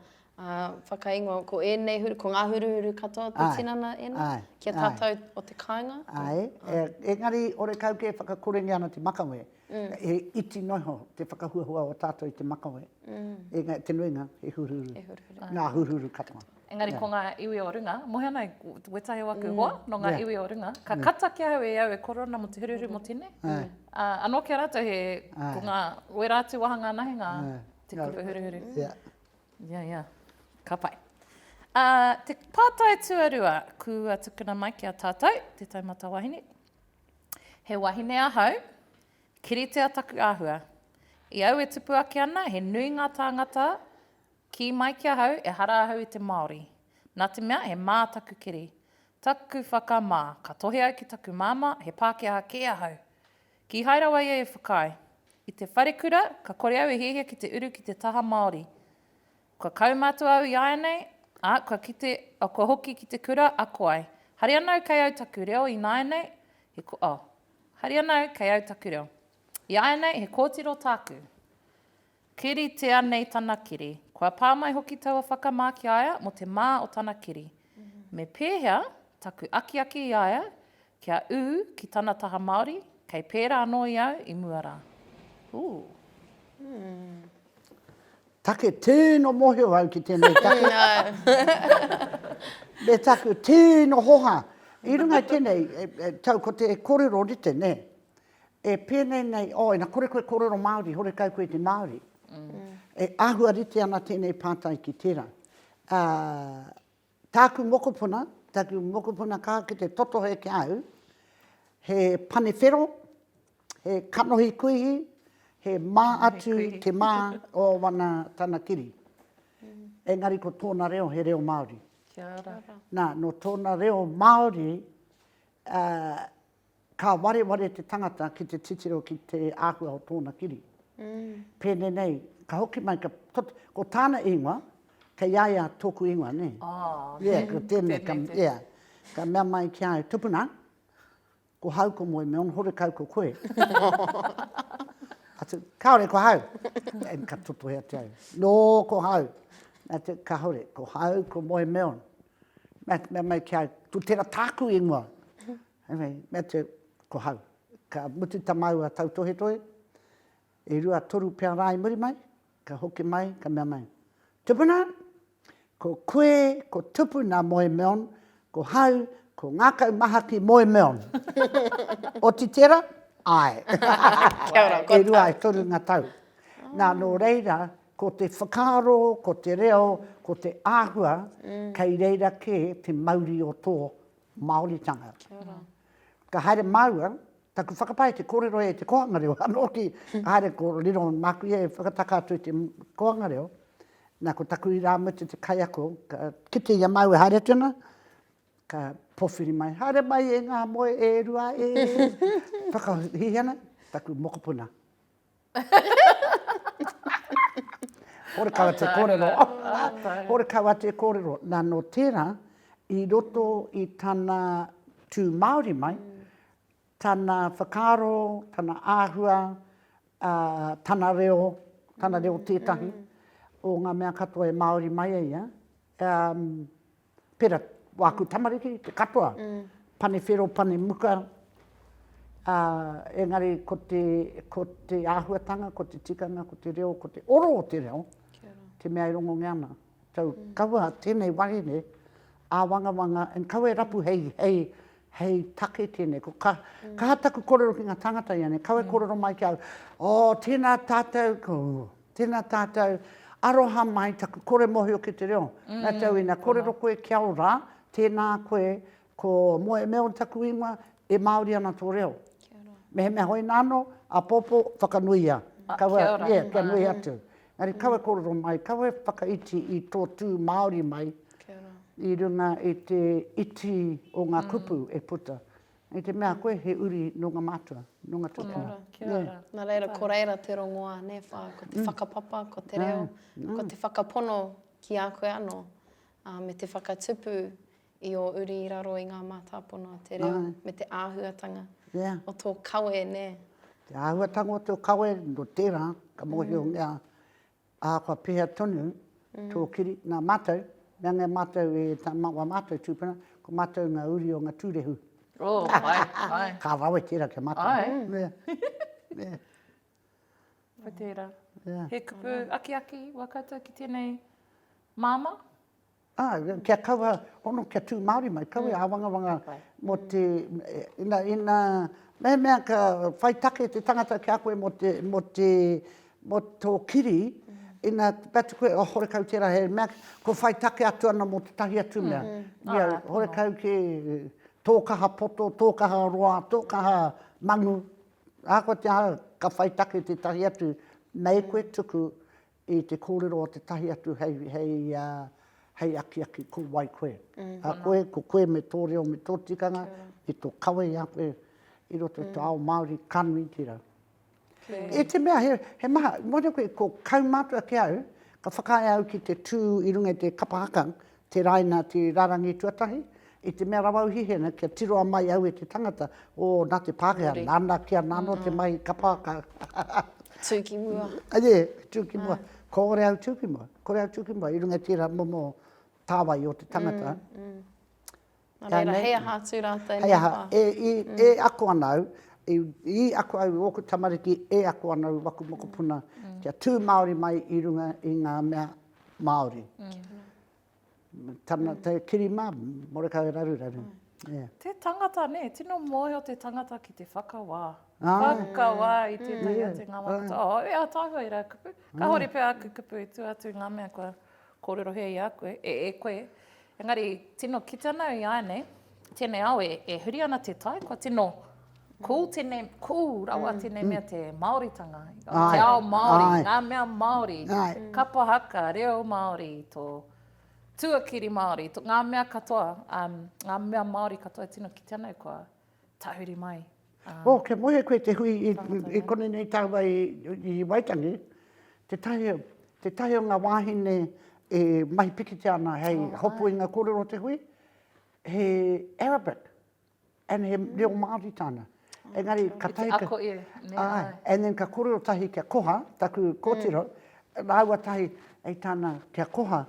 Ā, whakaingoa, ko ēnei huru, ko ngā huruhuru katoa te tinana ēnā, ki a tātou o te kāinga? Āe, engari orekau kē whakakorengia ana te makawe, he iti noho te whakahuahua o tātou i te makawe, engari te nuinga he huruhuru. He huruhuru. Ngā huruhuru katoa. Engari ko ngā iwi o runga, moe ana wētahi o aku hoa nō ngā iwi o runga, ka kata ki ahau e au e koro ana mō te huruhuru mō tēnei, ā, anō ki a rātou he, ko ngā, wērā atu wāhanga anahe ngā, te kupu huruhuru. Ia, ia. Ka pai. Ā, te pātai tuarua kua tukuna mai ki a tātou, te taumata wahine. He wahine ahau, kiritea taku āhua. I au e tupu ake ana, he nui ngā tāngata kī mai ki ahau ehara ahau i te Māori. Nā te mea, he mā taku kiri. Taku whakamā, ka tohe au ki taku māmā, he Pākehā kē ahau. Kīhai rawa ia e whakaae. I te wharekura, ka kore au e hiahia ki te uru ki te taha Māori. Kua kaumātua au ināianei, ā, kua kite, oh, kua hoki ki te kura, ako ai. Hari ana au kei au taku reo ināianei, he, oh, hari ana au kei au taku reo. Ināianei, he kōtiro tāku. Kiritea nei tana kiri. Kua pā mai hoki taua whakamā ki a ia mō te mā o tana kiri. Me pēhea taku akiaki i a ia kia ū ki tana taha Māori, kei pērā anō i au i mua rā. Ooh. Take tino mohio au ki tenei take. Me taku tino hoha. I runga i tenei tau ko te korero rite ne. E pēnei nei, oh, ina kore koe kōrero Māori, horekau koe i te Māori. E āhua rite ana tēnei pātai ki tērā. Ā, tāku mokopuna, tāku mokopuna ka ki te totohe ki a au, he pane whero, he kanohi kuihi, he mā atu te mā o wana tana kiri. Engari ko tōna reo he reo Māori. Kia ora. Nā, nō tōna reo Māori, ā, ka wareware te tangata ki te titiro ki te āhua o tōna kiri. Pēnei nei, ka hoki mai, ka, ko, ko tāna ingoa, kei a ia tōku ingoa, nē. Oh, yeah, ko tēnei, ka, yeah. Ka mea mai ki a au, tupuna, ko hau ko moe, me ono horekau ko koe. Atu, kāore ko hau. And ka totohe atu au, nō ko hau. Atu, kāore, ko hau ko moe, me ono. Mea mai ki a au, ko tera tāku ingoa. Mea atu au, ko hau. Ka mutu ta maua tautohetohe, e rua toru pea ra i muri mai, ka hoki mai, ka mea mai, Tupuna, ko koe ko Tupuna moe meon, ko hau ko Ngakau Mahaki moe meon. Oti tera? Ae. E rua e toru nga tau. Na, no reira, Ko te whakaaro, ko te reo, ko te āhua, kei reira kē te mauri o tō Māoritanga. Ka haere māua, taku whakapae te kōrero e te kōhanga reo, anō ki, ka haere ko riro māku ia e whakataka atu i te kōhanga reo, nā ko taku irāmutu te kaiako, ka kite i a māua e haere atu ana, ka pōwhiri mai, haere mai e ngā moe e rua e, whakahihi ana, taku mokopuna. Horekawa te kōrero. Horekawa te kōrero. Nā, nō tērā, i roto i tana tū Māori mai, tana whakaaro, tana āhua, tana reo, tana reo tētahi o ngā mea katoa e Māori mai ai ia, pera, wāku tamariki, te katoa, pane whero, pane muka, ā, engari ko te, ko te āhuatanga, ko te tikanga, ko te reo, ko te oro o te reo, te mea e rongongea ana. So, kaua tēnei wahine āwangawanga, and kaua e rapu hei, hei, hei take tēnei. Ko ka, kaha taku korero ki ngā tāngata ianei, kaua e korero mai ki au, oh, tēnā tātou, ko, Tena tatou aroha mai taku kore mohio ki te reo. Na tau ina korero koe kia ora, tena koe ko Moemeo taku ingoa, e Maori ana to reo. Mehemea hoina ano, apopo whakanuia. Kaua, yeah, kia nui atu. Engari kaua e korero mai, kaua e whakaiti i to tu Maori mai i runga i te iti o nga kupu e puta. I te mea koe he uri nō ngā mātua, nō ngā tūpuna. Kia ora, kia ora. Yeah. Nā reira, ko reira te rongoā, nē whā, ko te mm. whakapapa, ko te reo, mm. ko te whakapono ki a koe anō, uh, me te whakatupu i o uri i raro i ngā mātāpono o te reo, Ai. me te āhuatanga yeah. o tō kawe, nē. Te āhuatanga o tō kawe, no tērā, ka mōhio mm. ngā, Ahakoa pēhea tonu tō kiri, nā mātou, me anei mātou e tā mā, wā mātou tūpuna, ko mātou ngā uri o ngā tūrehu. Oh, ai, ai. Ka rawe tērā ki a mātou. Ai. Yeah, yeah. Ko tērā. Yeah. He kupu akiaki wā koutou ki tēnei māmā? Ā, kia kaua hono, kia tū Māori mai, kaua e āwangawanga mō te, ina, ina, mehemea ka whai take te tangata ki a koe mō te, mō te, mō tō kiri, ina te atu koe, oh, horekau tērā he mea, kua whai take atu ana mō tētahi atu mea. Ia, horekau kē, tō kaha poto, tō kaha roa, tō kaha manu, ahakoa te aha, ka whai take tētahi atu, mei koe tuku I te kōrero o tētahi atu hei akiaki, ko wai koe? A koe, ko koe me tō reo me tō tikanga, me tō kawe i a koe i roto i tō ao Māori, ka nui ki raro. I te mea he maha, mō te koe, ko kaumātua ki au, ka whakaae au ki te tū i runga i te kapa haka, Te Raina, te rarangi tuatahi, i te mea rawa uhihe ana kia tiroa mai au e te tangata, o, na te Pakeha, nana ki ana ano te mahi ka pakau. Tu ki mua. Ye, tu ki mua. Kore au tu ki mua, kore au tu ki mua i runga i tera momo tawai o te tangata. Nā reira, hei aha atu rātou nei pā? Hei aha, e ako ana au, i ako au i ōku tamariki, e ako ana au i waku mokopuna kia tū Māori mai i runga i ngā mea Māori. Tana kiri mā, Morekau Raruraru. Te tangata nē, tino mōhio te tangata ki te whakawā. Whakawā i tētahi o te ngā mokopuna. Āe, ātaahua i rā kupu. Kāore pea āku kupu i tua atu i ngā mea kua Kōrerohia i a koe, e, e koe. Engari, tino kite ana au i āianei, tēnei ao e, e huri ana te tai, kua tino cool tēnei, cool rawa tēnei mea te Māoritanga, te ao Māori, ngā mea Māori, kapa haka, reo Māori, tō tuakiri Māori, ngā mea katoa, ngā mea Māori katoa e tino kite ana au, kua Tahuri mai. Oh, kia moe koe te hui i konenei taua i Waitangi, tetahi o nga wahine e mahi pikitia ana hei hopu i nga korero o te hui, he Arabic, and he reo Maori tana. Engari, ka tahi ka, aye, and then ka korero tahi kia koha, taku kotiro, raua tahi, ei tana kia koha,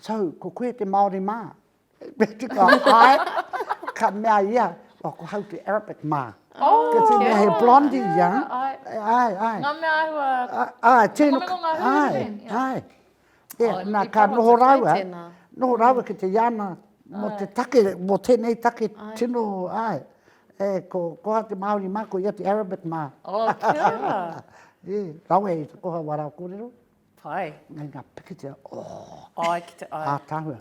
so, ko koe te Maori ma? Me tika ai, ka mea ia, oh, ko Hauti Arabic mā. Oh, kia tēnei kia he blondie ia. Ai, ai. ai. Ngā mea ahua. Ai, tēnā. Ai, ai. Ai, ai. Ai, ai. Ai, ai. E, oh, nā, ka noho rāua, noho rāua ki te iana, mō te take, mō tēnei take tino, ai, e, ko, ko ha te Māori mā, ko ia te Arabic mā. Oh, kia ora. e, rawe i te koha wā rāu kōrero. Whai. Nei nga pikitia ooh. Ai ki te ai. Ataahua.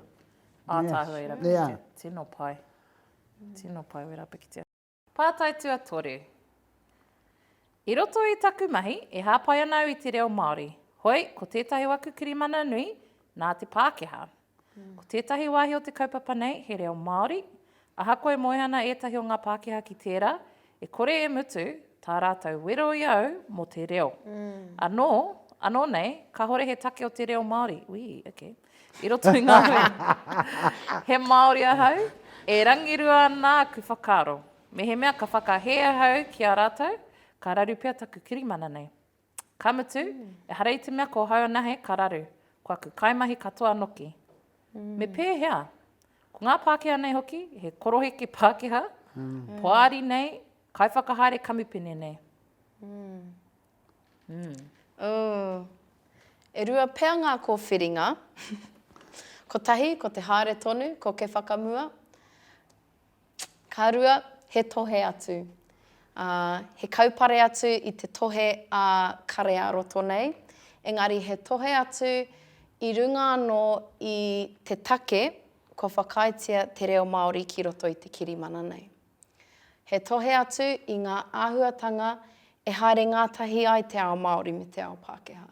Ataahua i ra pikitia. Yeah. Tino pai. Tino pai we ra pikitia. Pātai Tuatoru. I roto i taku mahi, e hāpai ana au i te reo Māori. Hoi, ko tētahi o aku kirimana nui, nā te Pākehā. Ko tētahi wāhi o te kaupapa nei he reo Māori, ahakoa e moe ana ētahi o ngā Pākehā ki tērā, e kore e mutu tā rātou wero i au mō te reo. Anō, anō nei, kāhore he take o te reo Māori, ui, okay, i roto i ngā hui. He Māori ahau, e rangirua ana aku whakaaro. Mehemea ka whakahē ahau ki a rātou, ka raru pea taku kirimana nei. Ka mutu, ehara i te mea ko hau anahe ka raru, ko aku kaimahi katoa noki. Me pēhea? Ko ngā Pākehā nei hoki, he koroheke Pākehā, poari nei, kaiwhakahaere kamupene nei. E rua pea ngā kōwhiringa. Kotahi, ko te haere tonu, ko ke whakamua. Ka rua, he tohe atu. Ā, he kaupare atu i te tohe a Kare-ā-roto nei, engari he tohe atu i runga anō i te take kua whakaaetia te reo Māori ki roto i te kirimana nei. He tohe atu i ngā āhuatanga e haere ngātahi ai te ao Māori me te ao Pākehā.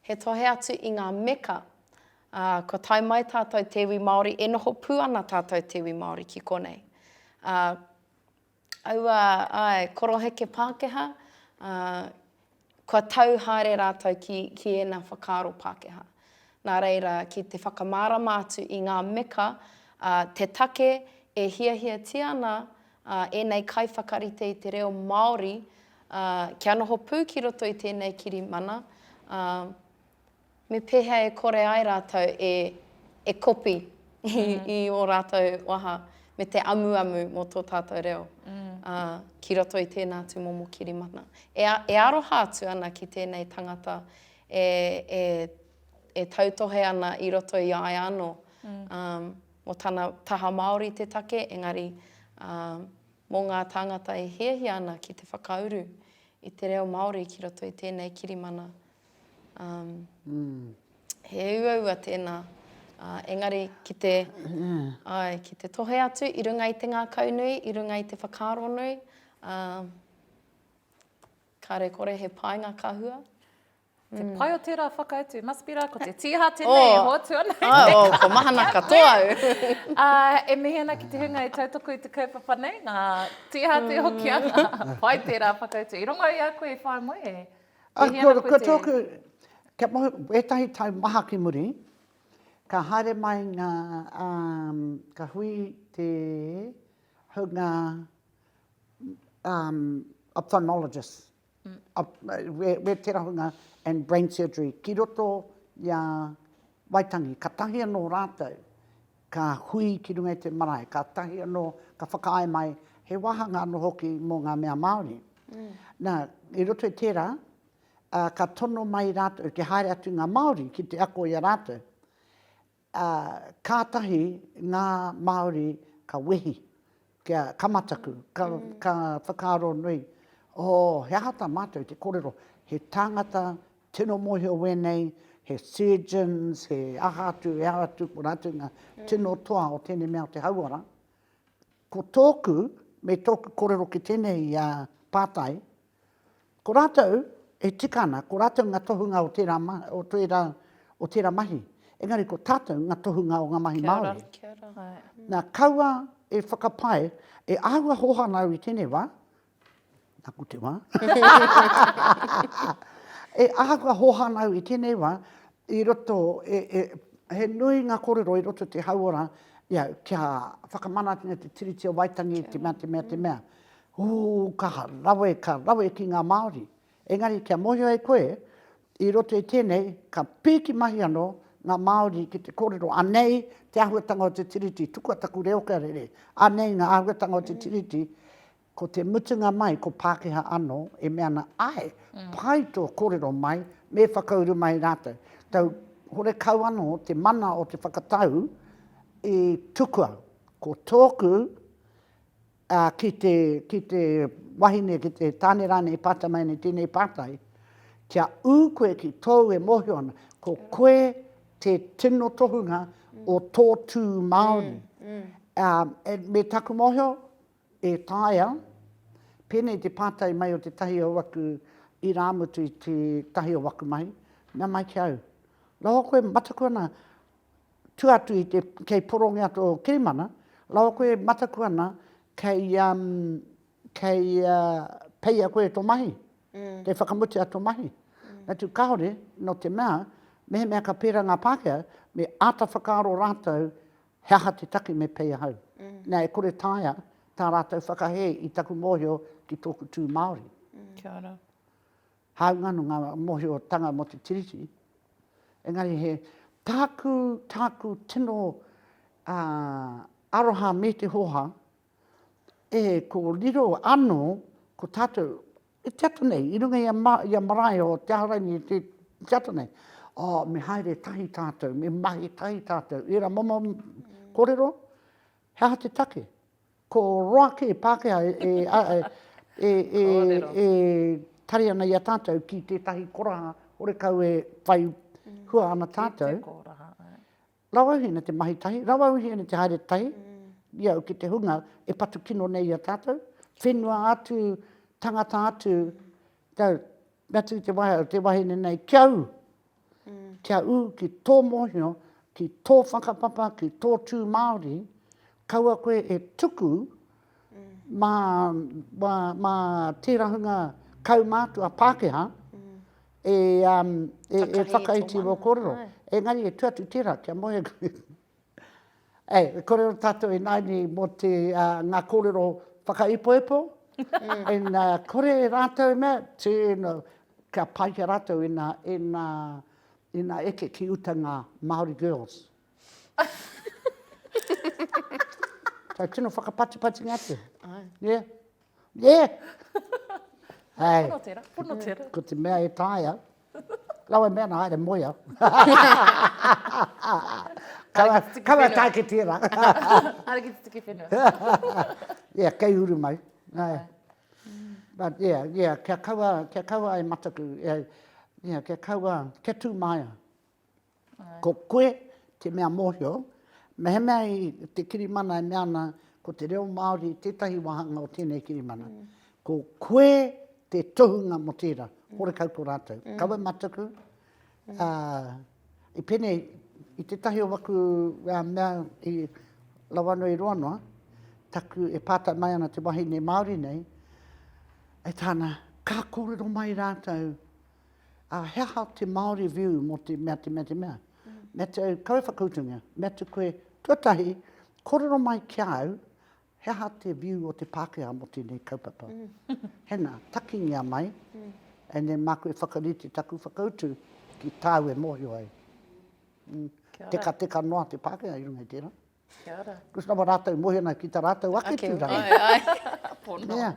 He tohe atu i ngā meka, ā, kua tae mai tātou te iwi Māori, e noho pū ana tātou te iwi Māori ki konei. Ā, aua, āe, koroheke Pākehā, ā, kua tau haere rātou ki, ki ēnā whakaaro Pākehā. Nā reira, ki te whakamārama atu i ngā meka, ā, te take e hiahiatia ana, ā, ēnei kaiwhakarite i te reo Māori, Ā, kia noho pū ki roto i tēnei kirimana, ā, me pēhea e kore ai rātou e, e kopi i, i ō rātou waha me te amuamu mō tō tātou reo, ā, ki roto i tēnā tūmomo kirimana. E, e aroha atu ana ki tēnei tangata e, e, e tautohe ana i roto i a ia anō, ā, mō tana taha Māori te take, engari, ā, mō ngā tāngata e hiahia ana ki te whakauru i te reo Māori ki roto i tēnei kirimana. Um, he uaua tēnā, uh, engari ki te, ai, ki te tohe atu i runga i te ngākau nui, i runga i te whakaaro nui, uh, kare kore he painga ka hua. Te pai o tērā whakautu, must be rā, ko te tīha tēnei e hoatu ana. Āe o, kua mahana katoa au. Ā, e mihi ana ki te hunga e tautoko i te kaupapa nei, ngā tīha te hoki ana. Pai tērā whakautu. I rongo i a koe i whai moe, e mihi ana koe te... Ko tōku, kia mau, ētahi tau maha ki muri, ka haere mai ngā, ka hui te hunga ophthalmologist. wēterahunga and brain surgery ki roto i a Waitangi. Katahi anō rātou ka hui ki runga i te marae, katahi anō ka whakaae mai he wāhanga anō hoki mō ngā mea Māori. Mm. Nā, i roto i tērā, uh, ka tono mai rātou ki haere atu ngā Māori ki te ako i a rātou. Ā, kātahi ngā Māori ka wehi, kia ka mataku, ka, ka whakaaro nui, Oh, he aha tā mātou te kōrero, he tāngata tino mōhio wēnei, he surgeons, he aha atu, he aha atu, ko rātou ngā tino toa o tēnei mea o te hauora. Ko tōku, me tōku kōrero ki tēnei pātai, Ko rātou e tika ana, ko rātou ngā tohunga o tērā, o tērā, o tērā mahi, engari ko tātou ngā tohunga o ngā mahi Māori. Kia ora, kia ora. Nā, kaua e whakapae, e āhua hōhana au i tēnei wā, nāku te wā, e āhua hōhana au i tēnei wā, i roto, e, e, he nui ngā kōrero i roto te hauora, ia, kia whakamanatia te Tiriti o Waitangi, te mea, te mea, te mea. Huu, kaha rawe, ka rawe ki ngā Māori. Engari kia mōhio ai koe, i roto i tēnei, ka pīki mahi anō ngā Māori ki te kōrero, anei te āhuatanga o te Tiriti, tukua taku reo kia rere, anei ngā āhuatanga o te Tiriti, ko te mutunga mai, ko Pākehā anō e mea ana, āe, pai tō kōrero mai, me whakauru mai rātou. Tau horekau anō te mana o te whakatau i tukua, ko tōku, ā, ki te, ki te wahine, ki te tāne rānei e pātai mai nei tēnei pātai, kia ū koe ki tōu e mōhio ana, ko koe te tino tohunga o tō tū Māori. Ā, me taku mōhio, e taea, pēnei te pātai mai o tētahi o aku irāmutu i tētahi o aku mahi, mea mai ki au, Rāua koe mataku ana, tu atu i te, kei porongia to kirimana, rawa koe e mataku ana kei, um, kei uh, peia koe to mahi, mm. kei whakamutia to mahi. Mm. Natu kahore, no te mea, mehemea ka pēra ngā Pākehā, me āta whakaaro rātou he aha te take me pei ahau. Mm. Nā, e kore tāia tā rātou whakahē i taku mōhio ki tōku tū Māori. Mm. Kia ora. Hāunga anō ngā mōhiotanga mō te Tiriti, engari he tāku, tāku tino aroha me te hōhā, e ko riro anō ko tātou e te ata nei, i runga i a marae o Te Ahuraini e te ata nei, oh, me haere tahi tātou, me mahi tahi tātou, ērā momo kōrero, he aha te take? Ko Roaki, Pākehā, e, a, e, e, e, Kōrero. e tari ana i a tātou ki tētahi koraha horekau e whai hua ana Ki te tātou. kōraha, ā. Rauauhiene te mahi tahi, rauauhiene te haere tahi, i au ki te hunga e patu kino nei i a tātou, whenua atu, tangata atu, tau, Mea atu te wahea, te wahine nei, kia ū, kia ū ki tō mōhio, ki tō whakapapa, ki tō tū Māori, kaua koe e tuku mā, mā, mā tērā hunga kaumātua Pākehā e, e, e whakaiti i wō kōrero. Engari e tū atu tērā, kia moe. Ei, korero tatou inaini mo te nga korero whakaipoipo, and kore ratou e mea, gee you know, kia pai ki a ratou ina, ina, ina eke ki uta nga Maori girls. Kei tino whakapatipatinga atu. Yeah. Yeah. Hei. Pono tera, pono tera. Ko te mea e taea. Rawa mea ana, haere moe au. Kawa e tāke tērā. Haere ki te tuki whenua. Yeah, kei uru mai. But yeah, yeah, kia kaua, kia kaua e mataku, yeah, kia kaua, kia tū māia. Ko koe te mea mōhio, mehemea i te kirimana e mea ana ko te reo Māori tētahi wāhanga o tēnei kirimana, ko koe te tohunga mō tērā, horekau ko rātou. Kawe mataku, i pēnei, i tētahi o aku mea i Rawanui-i-Roanoa, taku e pātai mai ana te wahine Māori nei, e tāna, ka kōrero mai rātou, Ā, he aha te Māori view mō te mea, te mea, te mea? Mea te au, kaua whakautungia, mea te koe, tuatahi, kōrero mai ki a au, he aha te view o te Pākehā mō tēnei kaupapa? Hena, takingia mai, and then māku e whakarite taku whakautu ki tāu e mōhio ai. Tekateka noa te Pākehā i runga i tērā. Kia ora. Ko sna wa ratou mohena ki ta ratou ake turanga. Ake, ai, ai. Pono. Yeah.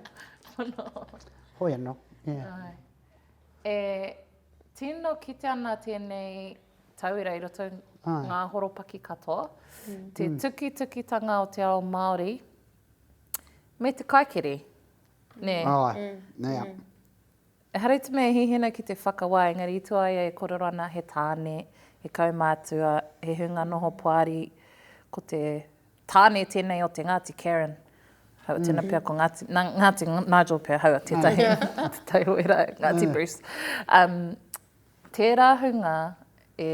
Pono. Hoi ano. Yeah. Ai. E tino kite ana tenei tauira i roto ai. nga horopaki katoa. Mm. Te mm. tuki tuki tanga o te ao Maori me te kaikere. Ne. Ai. Mm. Yeah. Mm. Ehara i te mea e hihina ki te whakawā, engari i tua ia e kōrero ana he tāne, he kaumātua, he hunga noho poari, ko te tāne tēnei o te Ngāti Karen. Hau a tēnā pea ko Ngāti, nā Ngāti Nigel pea, hau a tētahi, te tai o ērā, Ngāti Bruce. Um, Tērā hunga e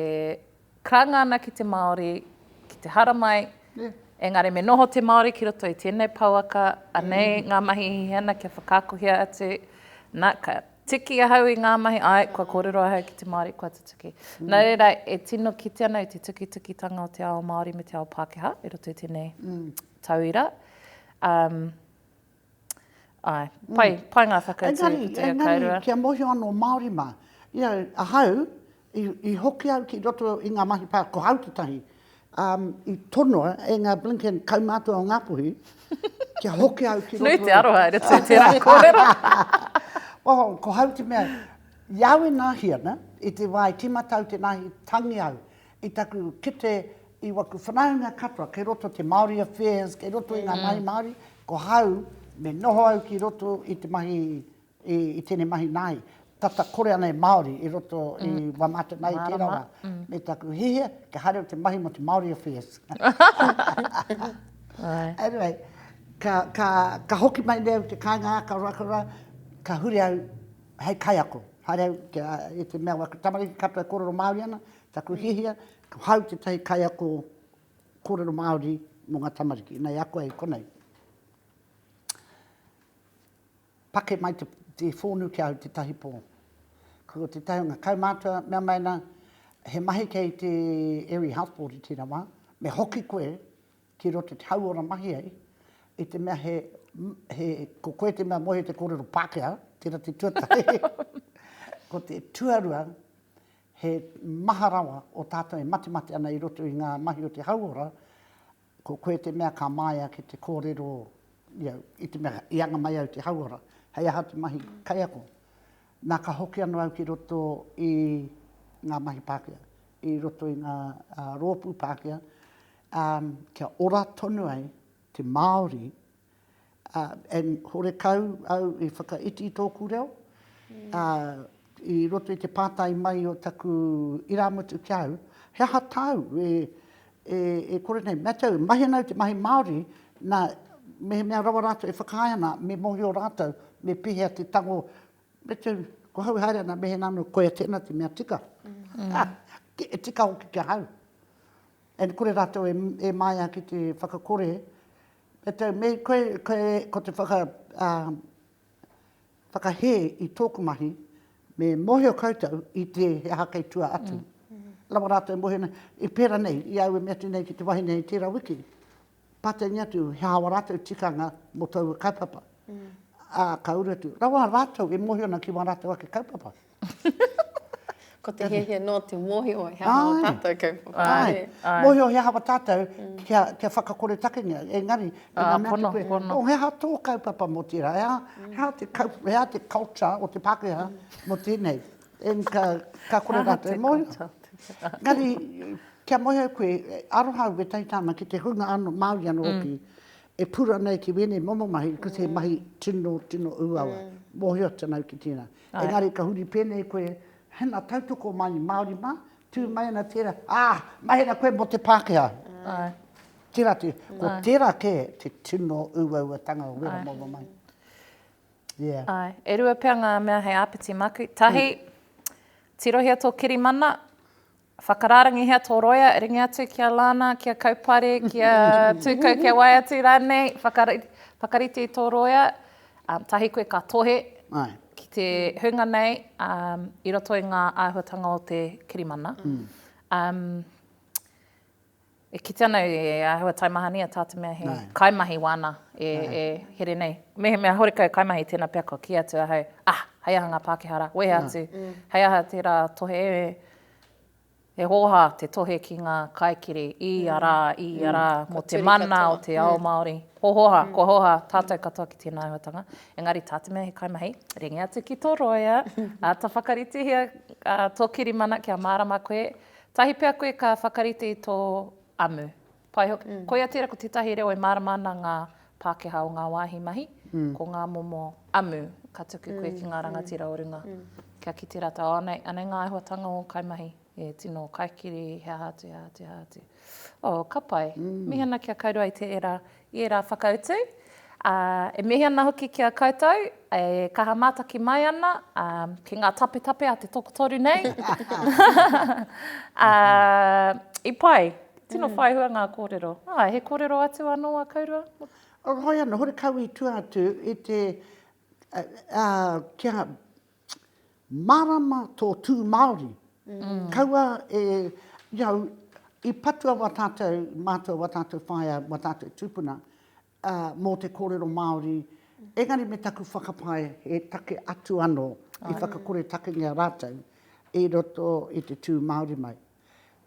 karanga ana ki te Māori, ki te haramai, engari me noho te Māori ki roto i tēnei pouaka, anei ngā mahi e hihia ana kia whakaakohia atu, nā, ka tiki ahau i ngā mahi, āe, kua kōrero ahau ki te Māori, kua tutuki. Nō reira, e tino kite ana i te tukitukitanga o te ao Māori me te ao Pākehā i roto i tēnei tauira. Ae, pai, pai nga whakatū ki te ao kairua. Engari, kia mohio ano Maori ma, you know, ahau, i hoki au ki roto i nga mahi pa, ko au te tahi, i tonoa e nga blinkin kaumatua o Ngapuhi, kia hoki au ki roto. Nui te aroha i roto i tera korero. Well, ko au te mea, i au e nahi ana, i te wa e timatau te nahi, tangi au. I taku kete i waku whanaunga katoa, kei roto te Māori Affairs, kei roto i ngā mahi Māori, ko hau, me noho au ki roto i te mahi, i tēnei mahi nāi, tata kore ana e Māori i roto i Waimāta nāi i tērā wā. Me taku hihia, kia haere au te mahi mō te Māori Affairs. Anyway, ka hoki mai nei au i te kāinga aka Ruakura, ka huri au hei kaiako. Haere au i te mea waku tamariki katoa e kōrero Māori ana, Taku hiahia, ko hau tētahi kaiako kōrero Māori mō ngā tamariki. Nei ako ai konei. Pake mai te, te whōnu ki a au tētahi pō. Ko tētahi o ngā kaumātua, mea mai ana, he mahi kei te Area Health Board i tēnā wā, me hoki koe ki roto te hauora mahi ai, i te mea he, he, ko koe te mea moe te kōrero Pākehā, tērā te tuatahi. ko te tuarua, He maha rawa o tātou e matemate ana i roto i ngā mahi o te hauora, ko koe te mea ka māia ki te kōrero i au, i te mea i anga mai au te hauora, hei aha te mahi kaiako. Nā ka hoki anō au ki roto i ngā mahi Pākehā, i roto i ngā rōpū Pākehā, kia ora tonu ai te Māori, and horekau au i whakaiti tōku reo, ā, i roto i te pātai mai o taku irāmutu ki a au, he aha tāu e, e, e kore nei, mātou, mahi ana au te mahi Māori, nā, mehemea rawa rātou e whakaae ana, me mōhio rātou, me pēhea te tango, me tū, ko hau e haere ana, me he nā anō, koia tēnā te mea tika. E tika hoki ki a hau. And kore rātou e, e māia ki te whakakore, E te mea koe, koe, ko te whaka, ā, whakahē i tōku mahi, me mōhio koutou i te he aha kei tua atu. Rawa rātou e mōhio nei, i pērā nei, i au e mea atu nei ki te wahine hei tērā wiki, pātaingia atu he aha ō rātou tikanga mō taua kaupapa. Ā, ka uru atu, rawa rātou e mōhio ana ki wā rātou ake kaupapa. Ko te hiahia nō te mōhio he aha o tātou kaupapa. Ai, mōhio he aha o tātou kia whakakore takengia. Engari, i ngā mea ki koe, oh, he aha tō kaupapa mō tērā? He aha te kaupapa, he aha te culture o te Pākehā mō tēnei? Ka kore rātou e mōhio. Engari, kia moe au koe, aroha au ētahi tāma ki te hunga anō, Māori anō hoki, e pūrana ai ki wēnei momo mahi, ko te mahi tino, tino ūawa. Mōhio tonu au ki tēnā. Engari ka huri pēnei koe, Hena tautoko mai Māori mā, tū mai ana tērā, ā, mahera koe mō te Pākehā. Tērā te, ko tērā kē te tino uauatanga o wera momo mai. Yeah. Āe, e rua pea ngā mea hei āpiti māku. Tahi, tirohia tō kirimana. Whakarārangihia tō roea, ringi atu ki a Lana, ki a Kaupare, ki a Tūkau, ki a Waiatu rānei, whakarite tō roea, tahi koe ka tohe ki te hunga nei i roto i ngā āhuatanga o te kirimana. E kitea ana e ahua taimahania tā te mea he kaimahi wāna e here nei. Mehemea horekau e kaimahi, tēnā pea kua kī atu ahau, ah, hei aha ngā Pākehā rā, wehe atu, hei aha tērā tohe e, he hōhā te tohe ki ngā kaikiri i ia rā, i ia rā, mō te mana o te ao Māori. Hōhā, kua hōhā tātou katoa ki tēnā āhuatanga. Engari tā te mea he kaimahi, ringi atu ki tō rōia, āta whakaritihia tō kirimana kia mārama koe, Tahi pea koe ka whakarite i tō amu. Pai hoki. Koia tērā ko tētahi reo e mārama ana ngā Pākehā o ngā wāhi mahi, ko ngā momo amu ka tuku koe ki ngā rangatira o runga kia kite rātou, oh anei, anei ngā āhuatanga o ō kaimahi, e tino kaikiri, he aha atu, he aha atu, he aha atu. Oh, ka pai. Mihana kia kaurua i te era i ērā whakautu, ā, e mihi ana hoki ki a koutou, e kaha mātaki mai ana, ā, ki ngā tapetape a te tokotoru nei, ā, i pai, tino whai hua ngā kōrero. Ā, he kōrero atu anō a Kaurua? Hoi anō, horekau i tua atu i te, ā, kia. Mārama tō tū Māori. Kaua e, you know, i patua wā tātou, mātua, wā tātou whaea, wā tātou tūpuna, mō te kōrero Māori, engari me taku whakapae he take atu anō i whakakoretakengia rātou i roto i te tū Māori mai.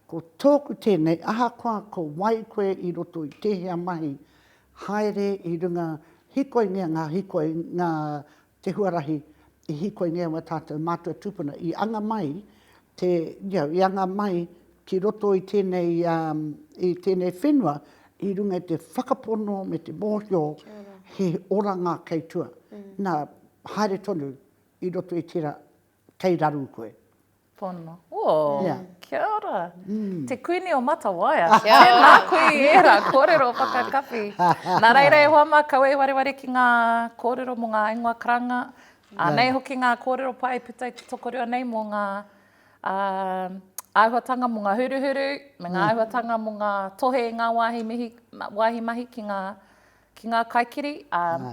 Ko tōku tēnei, ahakoa ko wai koe i roto i tēhea mahi, haere i runga, hikoingia ngā hikoi, ngā te huarahi i hīkoi nei mō tātou mātua tūpuna, i anga mai te, you know, i anga mai ki roto i tēnei, i tēnei whenua i runga i te whakapono me te mōhio he oranga kei tua. Nā, haere tonu i roto i tērā, kei raru koe. Pono. Oh, yeah. kia ora. Mm. Te Kuini o Matawaia. Kia ora. Tēnā koe i ērā kōrero whakakapi. Nā reira e hoa mā, kaua e wareware ki ngā kōrero mō ngā ingoa karanga. Anei hoki ngā kōrero pai puta i te tokorua nei mō ngā uh, āhuatanga mō ngā huruhuru, me ngā mm. āhuatanga mō ngā tohe i ngā wāhi, mihi, wāhi mahi ki ngā, ki ngā kaikiri. Uh,